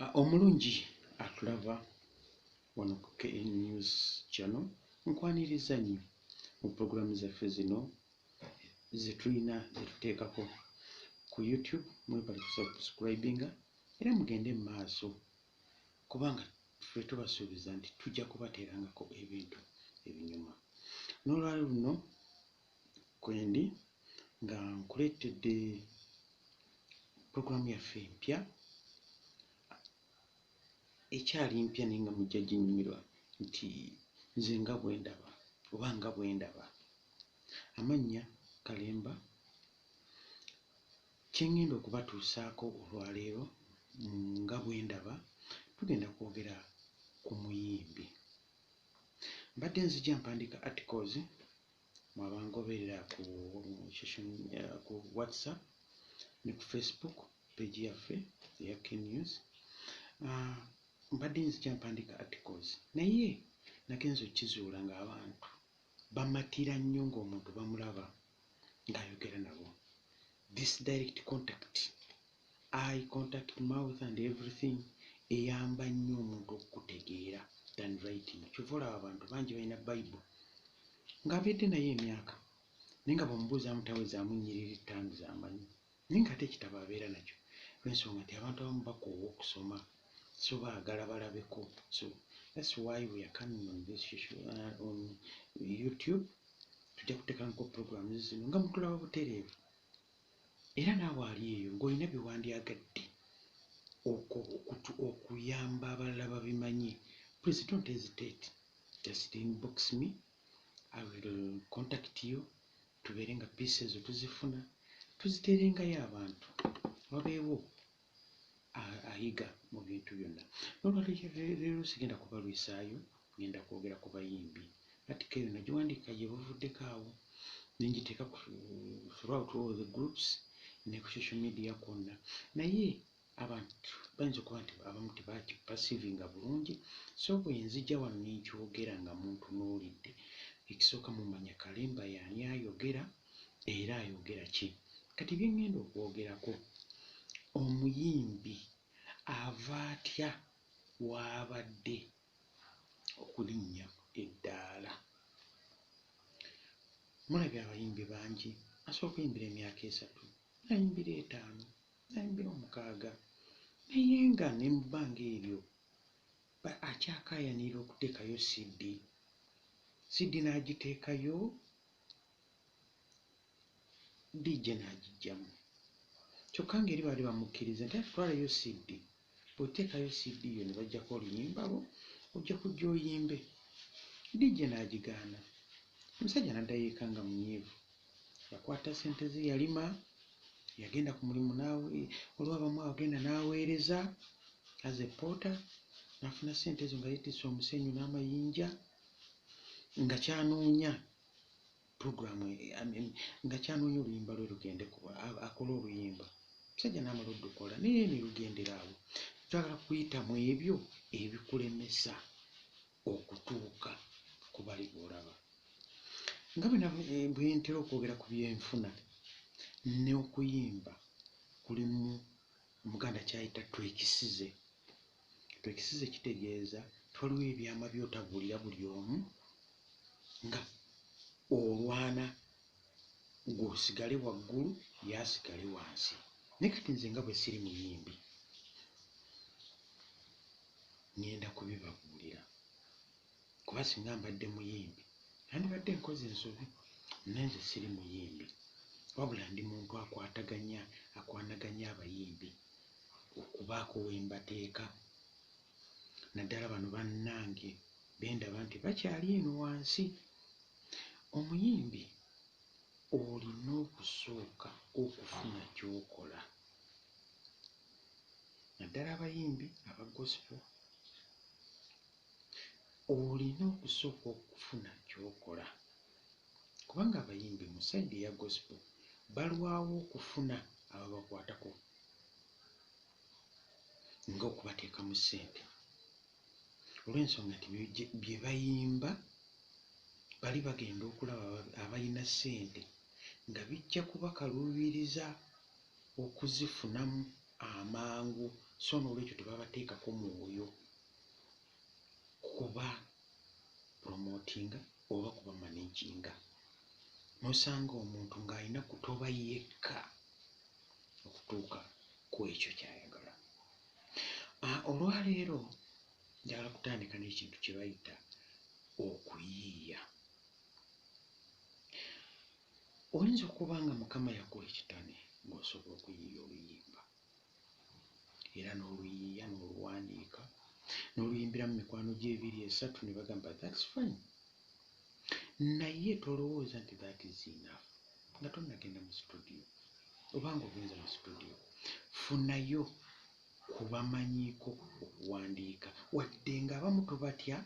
Ah, omulungi atulaba wano ku kn news channel nkwaniriza nnyo mu pulogulaamu zaffe zino zetulina zetuteekako ku youtube mwebali kusubscribinga era mugende mu maaso kubanga ffe tubasuubiza nti tujja kubateerangako ebintu ebinyuma n'olwalo luno kwendi nga nkuleetedde program yaffe empya ekyali mpya naye nga mujja ginyumirwa nti nze nga bwendaba oba nga bwendaba amannya kalemba kyengenda okubatuusaako olwaleero nga bwendaba tugenda kwogera ku muyimbi mbadde nzija mpandika articles mwe abangoberera ku social media ku whatsapp ne ku facebook page yaffe eya knews ah, mbadde nzija mpandika articles naye nagenza okizuula ng'abantu bamatira nnyo ng'omuntu bamulaba ng'ayogera nabo this direct contact eye contact, mouth and everything eyamba nnyo omuntu okukutegeera than writing kyova olaba abantu bangi balina bible nga abedde naye emyaka naye nga bwomubuuzamu tawezaamu nnyiriri ttaano zamanyi naye nga ate ekitabo abeera nakyo lwensonga nti abantu abamu bakoowa okusoma so baagala balabeko so that's why we are coming on this social, uh, on youtube tujja kutekanko programs zino nga mutulaba butereevu Era naawe ali eyo ng'olina bye wandyagadde okuyamba abalala babimanye, please don't hesitate just inbox me I will contact you tubeere nga peace ezo tuzifuna tuziteerengayo abantu wabeewo ayiga mu bintu byonna nolwalero sigenda kubalwisaayo ngenda kwogera ku bayimbi atika eyo nagiwandiika gye buvuddeko awo nengiteeka throughout all the groups ne ku social media kwonna naye abantu bayinza okuba nti abamu tebakipasivinga bulungi so bwenzija wano nenkyogera nga muntu nolidde ekisooka mumanya kalemba yaani ayogera era ayogera ki? Kati bye ŋŋenda okwogerako, omuyimbi ava atya w'abadde okulinnya eddaala? Mulabye abayimbi bangi asobola okuyimbira emyaka esatu, n'ayimbira etaano, n'ayimbira omukaaga naye nga ne mu bbanga eryo akyakaayanirira okuteekayo CD, CD n'agiteekayo DJ n'agijjamu kyokka ng'eri baali bamukkiriza nti ati twalayo CD bw'oteekayo CD yo ne baggyako oluyimba lwo ojja kujja oyimbe DJ n'agigaana omusajja n'addayo eka nga munyiivu yakwata ssente ze yalima yagenda ku mulimu naawe waliwo abamu agenda n'aweereza as a porter n'afuna ssente ezo nga yeetisse omusenyu n'amayinja nga kyanoonya program nga kyanoonya oluyimba lwe lugende kuba akole oluyimba musajja naamala odukola naye ne lugendera awo twagala kuyita mu ebyo ebikulemesa okutuuka ku bali boolaba nga eh, bwentera okwogera ku byenfuna n'okuyimba kulimu omuganda kyayita twekisize Ekyo ekisize kitegeeza nti waliwo ebyama by'otabuulira buli omu nga olwana gwe osigale waggulu ye asigale wansi. Naye kati nze nga bwe siri muyimbi ngenda kubibabuulira kuba singa mbadde muyimbi nandibadde nkoze ensobi naye nze siri muyimbi wabula ndi muntu akwataganya akwanaganya abayimbi okubaako we mbateeka naddala bano bannange be ndaba nti bakyali eno wansi. Omuyimbi olina okusooka okufuna ky'okola naddala abayimbi aba gospel olina okusooka okufuna ky'okola kubanga abayimbi mu side eya gospel balwawo okufuna ababakwatako nga okubateekamu ssente olw'ensonga nti bye bayimba bali bagenda okulaba abalina ssente nga bijja kubakaluubiriza okuzifunamu amangu so n'olwekyo tebabateekako mwoyo kuba promotinga oba kuba managinga nosanga omuntu ng'alina kutoba yekka okutuuka ku ekyo kyayagala ah, olwaleero njagala kutandika n'ekintu kye bayita okuyiiya oyinza okuba nga mukama yakuwa ekitane ng'osobola okuyiiya oluyimba era n'oluyiiya n'oluwandiika n'oluyimbiramu mikwano gye ebiri esatu ne bagamba thats fine naye tolowooza nti that is enough nga tonnagenda mu situdiyo oba nga ogenze mu situdiyo funayo kubamanyiiko okuwandiika wadde nga abamu tubatya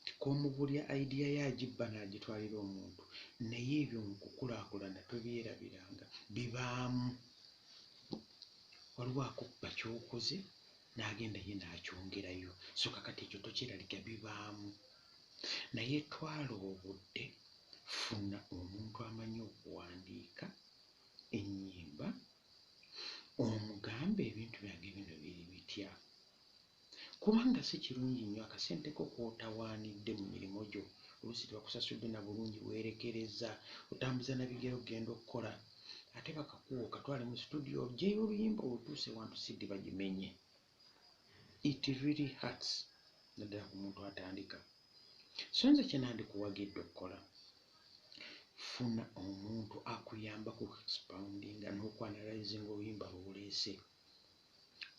nti k'omubulya idea ye agibba n'agitwalira omuntu naye ebyo mu kukulaakulana tobyerabiranga bibaamu. Waliwo akubba ky'okoze n'agenda ye n'akyongerayo so kakati ekyo tokyeraliga bibaamu naye twala obudde funa omuntu amanyi okuwandiika ennyimba omugambe ebintu byange bino biri bitya. Kubanga si kirungi nnyo akasente ko k'otawaanidde mu mirimu gyo, oluusi tebakusasudde na bulungi, weerekerezza, otambuza na bigere okugenda okukola, ate bakakuwa okatwale mu situdiyo oggyeyo oluyimba olutuuse wantu CD bagimenye. It really hurts naddala ku muntu atandika. So nze kye nandikuwagidde okukola, funa omuntu akuyambako okuexpoundinga n'okuanalyzinga oluyimba lw'oleese.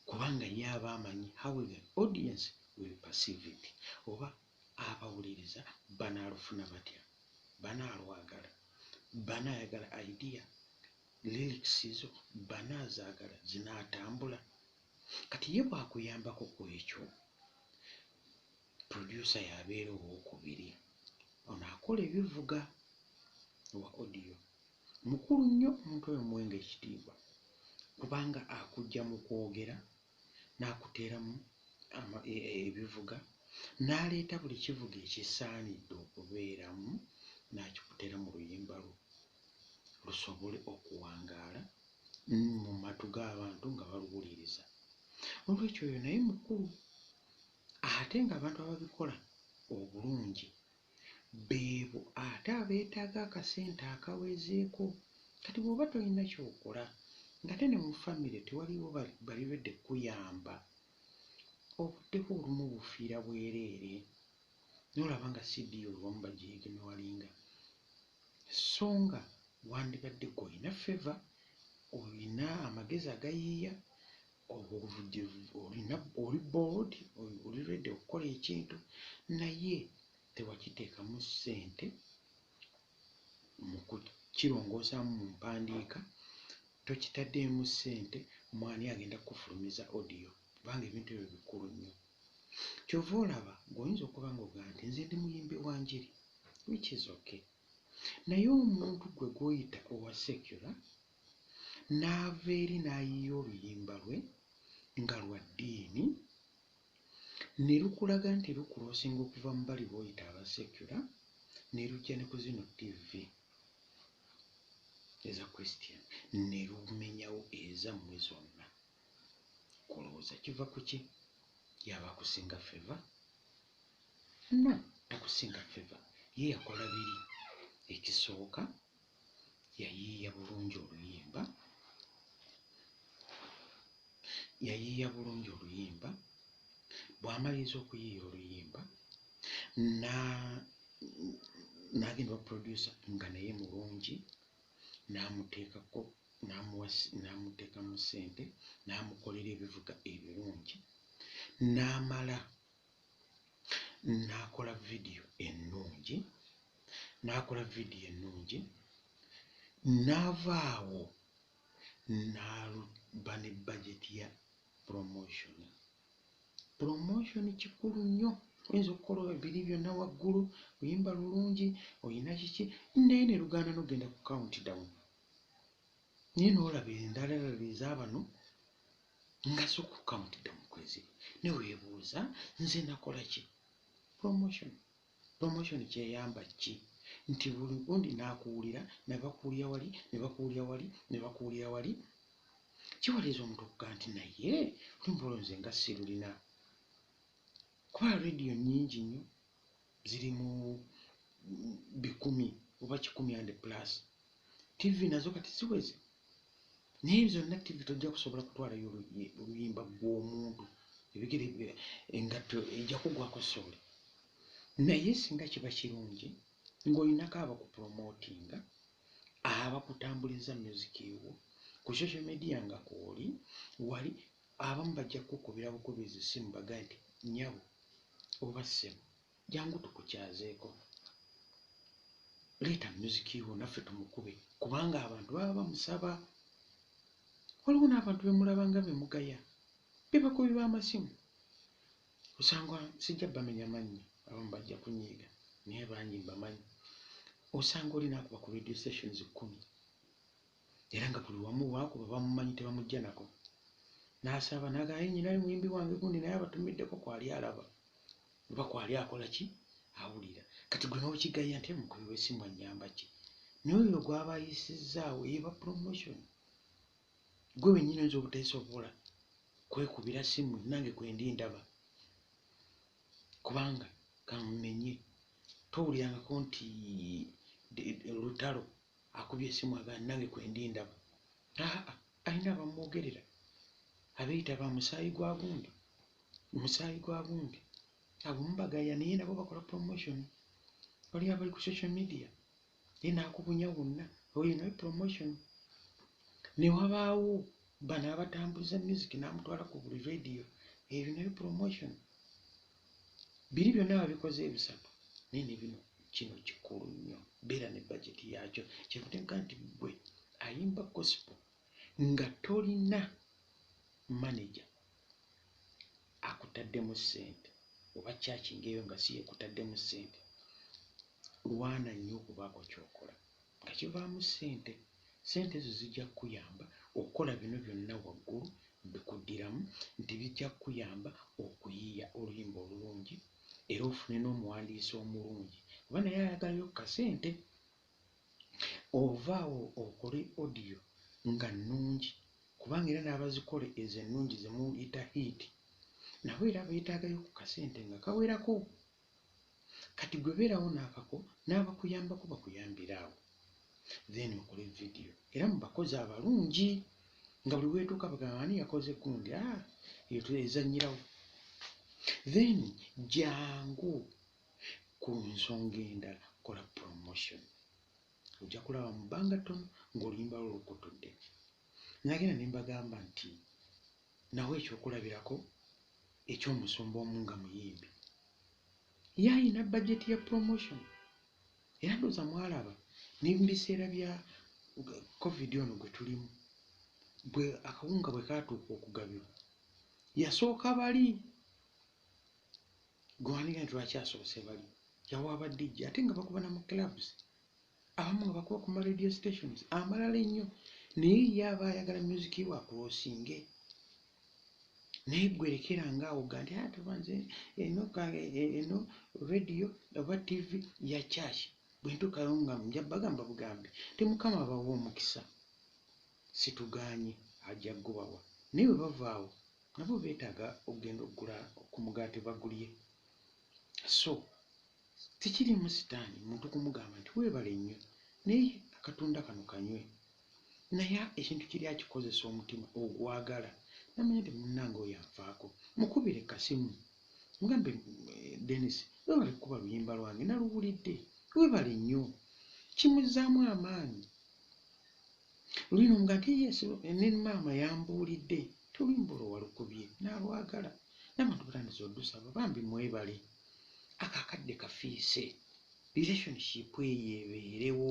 kubanga ye aba amanyi how the audience will perceive it oba abawuliriza banaalufuna batya banaalwagala banaayagala idea lyrics zo banaazaagala zinaatambula kati ye bwakuyambako ku ekyo producer yabeera owokubiri ono akola ebivuga owa audio Mukulu nnyo omuntu oyo muwenga ekitiibwa kubanga akujja mu kwogera n'akuteeramu ebivuga n'aleeta buli kivuga ekisaanidde okubeeramu n'akikuteera mu luyimba lwo lusobole okuwangaala mu matu g'abantu nga baluwuliriza. Noolwekyo oyo naye mukulu ate ng'abantu ababikola obulungi beebo ate abetaaga akasente akawezeeko kati bwoba tolina kyokola ngate ne mu family tewaliwo bali ready kukuyamba obudde bwo olumu obufiira bwereere nolaba nga si deal abamu bagyignowalinga so nga wandibadde gwe olina favour olina amagezi agayiiya obuvujjirivu olina oli board oli ready okukola ekintu naye tewakiteekamu ssente mu kukirongoosamu mu mpandiika tokitaddeemu ssente mwani agenda kufulumiza odiyo kubanga ebintu ebyo bikulu nnyo kyova olaba gweoyinza okuba nga ogaa nti nze ndi muyimbi wa njiri which is okay naye omuntu gwe gwoyita owa secular n'ava eri n'ayiiya oluyimba lwe nga lwa ddiini ne lukulaga nti lukuloosinga okuva mu bali b'oyita aba secular ne lujja ne ku zino ttivvi eza Christian ne lumenyawo ezammwe zonna. Olowooza kiva ku ki? Y'aba akusinga feva? No, takusinga feva. Ye yakola biri. Ekisooka yayiiya bulungi oluyimba yayiiya bulungi oluyimba bw'amaliriza okuyiiya oluyimba n'agenda baprodusa nga naye mulungi n'amuteekako n'amuteekamu ssente n'amukolera ebivuga ebirungi n'amala n'akola vidiyo ennungi n'akola vidiyo ennungi n'ava awo n'aluba ne bajeti ya promotion promotion kikulu nnyo oyinza okukola ebiri byonna waggulu luyimba lulungi olina kiki naye ne lugaana n'okugenda ku count down naye nolaba endalalala ezabano nga zo kukamutidde mukwezi ne webuuza nze nakola ki promotion promotion kyeyamba ki nti buli gundi nakuwulira nebakuwulira wali nebakuwulira wali nebakuwulira wali kiwaliza omuntu okuga nti naye lumbolo nze nga sirulina kuba rediyo nyingi nnyo ziri mu bikumi oba kikumi and plus tv nazo kati ziweze naye zonna tv tojja kusobola kutwalayo oluyimba gw'omuntu ebigere engatto ejja kugwako sooli naye singa kiba kirungi ng'olinako abakupromotinga abakutambuliza music ewo ku social media nga kwoli wali Abamu bajja kukukubira bukubirizi ssimu bagaye nti, Nnyabo oba ssebo, jangu tukukyazeeko. Leeta myuziki wo naffe tumukube kubanga abantu baba bamusaba. Waliwo n'abantu be mulaba nga be mugaya be bakubi b'amasimu. Osanga sijja bamenya mannya, abamu bajja kunyiiga naye bangi mbamanyi. Osanga oli n'akuba ku radio stations kkumi era nga buli wamu wakuba bamumanyi tebamujja nako n'asaba naga aye nyina ali muyimbi wange gundi naye abatumiddeko kwali alaba oba kwali akola ki awulira kati gwe n'okigaya nti mukubi w'essimu annyamba ki n'oyo gwaba ayisizzaawo eba promotion gwe wennyini oyinza obuteesobola kwekubira simu nange kwendi ndaba kubanga kamumenye towulirangako nti lutalo Akubye esimu agamba nange kwendi ndaba. Aa alina abamwogerera abeyita ba musaayi gwa gundi musaayi gwa gundi abo mubagaya naye nabo bakola promotion waliyo abali ku social media naye nakubunya wonna oyo naye promotion newabaawo bano abatambuza music namutwala ku buli radio eyo naye promotion biri byonna babikoze ebisatu naye ne bino kino kikulu nnyo beera ne bajeti yaakyo kyevutenga nti gwe ayimba gosipo nga tolina maneja akutaddemu ssente oba kyakingeeyo nga si yekutaddemu ssente lwana nnyo okubaako kyokola Nga kivaamu ssente. Ssente ezo zijja kukuyamba okukola bino byonna waggulu mbikuddiramu nti bijja kukuyamba okuyiiya oluyimba olulungi era ofune n'omuwandiisi omulungi kuba naye ayagalayo ku kasente. Ova awo okole odiyo nga nnungi kubanga era n'abazikola ezo ennungi ze muyita hiiti nabo era beetaagayo ku kasente nga kawerako. Kati gwe beerawo naakako n'abakuyambako bakuyambire awo then mukole video era mubakozi abalungi nga buli weetuuka bagamba ani yakoze gundi ah, eyo twezanyirawo then jangu ku nsonga endala kola promotion ojja kulaba mu bbanga ttono ng'oluyimba lwo lukutudde nagenda ne mbagamba nti nawa ekyokulabirako eky'omusumba omu nga muyimbi ye alina bajeti ya promotion era ndooza mwalaba ne mu biseera bya covid ono gwe tulimu bwe akawunga bwe kaatuuka okugabibwa yasooka bali gwewandiga nti lwaki asoose bali yawa badijja ate nga bakuba na mu clubs abamu nga bakuba ku ma radio stations amalala ennyo naye ye aba ayagala music wa kulosinge naye gwerekera ngaawo ga nti atuba ah, nze eno e, e, eno radio oba tv ya church bwentuukayo nga nja bagamba bugambi ti mukama abawa omukisa situgaanye ajja gubawa naye bwe bavaawo nabo beetaaga okugenda okugula ku mugaati bagulye so Sikiriimu sitaani muntu kumugamba nti weebale nnyo naye akatunda kano kanywe. Naye ekintu kiri akikozesa omutima ogwagala namanya nti munnange oyo anfaako. Mukubire kasimu mugambe Denis weebale kukuba luyimba lwange naluwulidde weebale nnyo. Kimuzzaamu amaanyi. Luli n'omugamba nti yes ne maama yambuulidde nti oluyimba olwo walukubye nalwagala. N'abantu batandise odusaba bambi mwebale. ako akadde kafiise relationship eyo ebeerewo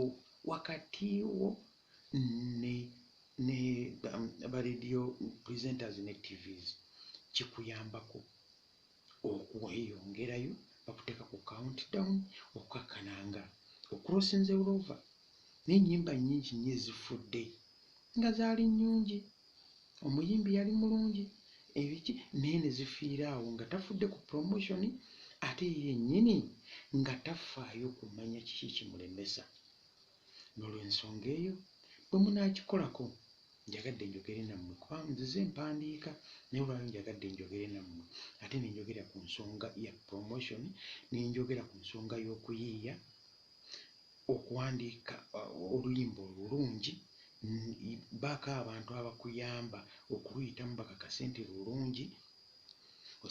wakati wo ne ne um, ba radio presenters ne tvs kikuyambako okweyongerayo bakuteka ku countdown okukakana nga okrosinze ulova n'ennyimba nnyingi nnyo ezifudde nga zaali nnyungi, omuyimbi yali mulungi ebiki naye ne zifiira awo nga tafudde ku promotion ate ye yennyini nga tafaayo kumanya kiki kimulemesa. N'olwensonga eyo bwe munaakikolako njagadde njogere nammwe kubanga nzize mpandiika naye olwaleero njagadde njogere nammwe ate ne njogera ku nsonga ya promotion ne njogera ku nsonga y'okuyiiya okuwandiika oluyimba olulungi baako abantu abakuyamba okuluyitamu bakakase nti lulungi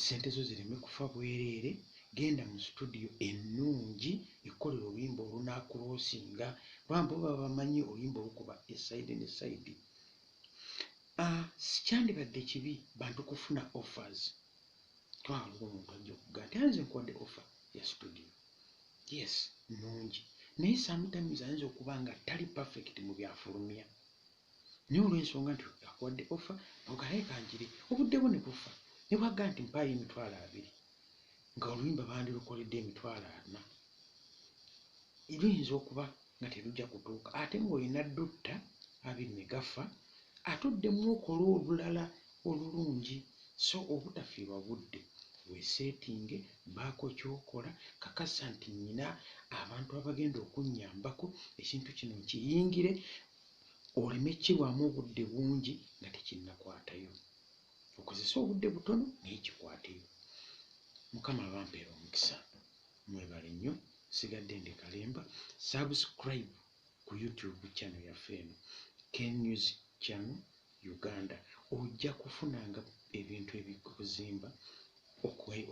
sente zo zireme kufa bwereere genda mu situdiyo ennungi ekkolera oluyimba olunaakuloosinga kubanga baba bamanyi oluyimba olukuba esaidi ne saidi ah, sikyandibadde kibi bantu kufuna offers twala oba omuntu ajja okugaa nti anze nkuwadde offer ya situdiyo yes nungi naye sometimes ayinza okuba nga tali perfect mu byafulumya naye olw'ensonga nti akuwadde offer ogalaye kangire obudde bwo ne bufa ne bwagga nti mpaayo emitwalo abiri nga oluyimba bandirukoledde emitwalo ana luyinza okuba nga terujja kutuuka ate ng'olina dutta abiri ne gafa ate oddemu okola olulala olulungi so obutafiirwa budde. Weeseetinge, baako ky'okola, kakasa nti nnina abantu abagenda okunnyambako ekintu kino nkiyingire oleme kukirwamu obudde bungi nga tekinnakwatayo. Okozese obudde butono naye kikwateyo. Mukama abampeere omukisa. Mwebale nnyo. Nsigadde ndi kalemba. Subscribe ku YouTube channel yaffe eno KNews Channel Uganda ojja kufunanga ebintu ebikuzimba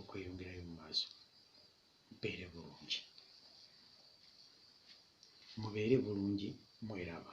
okweyongerayo mu maaso mpeere bulungi mubeere bulungi mweraba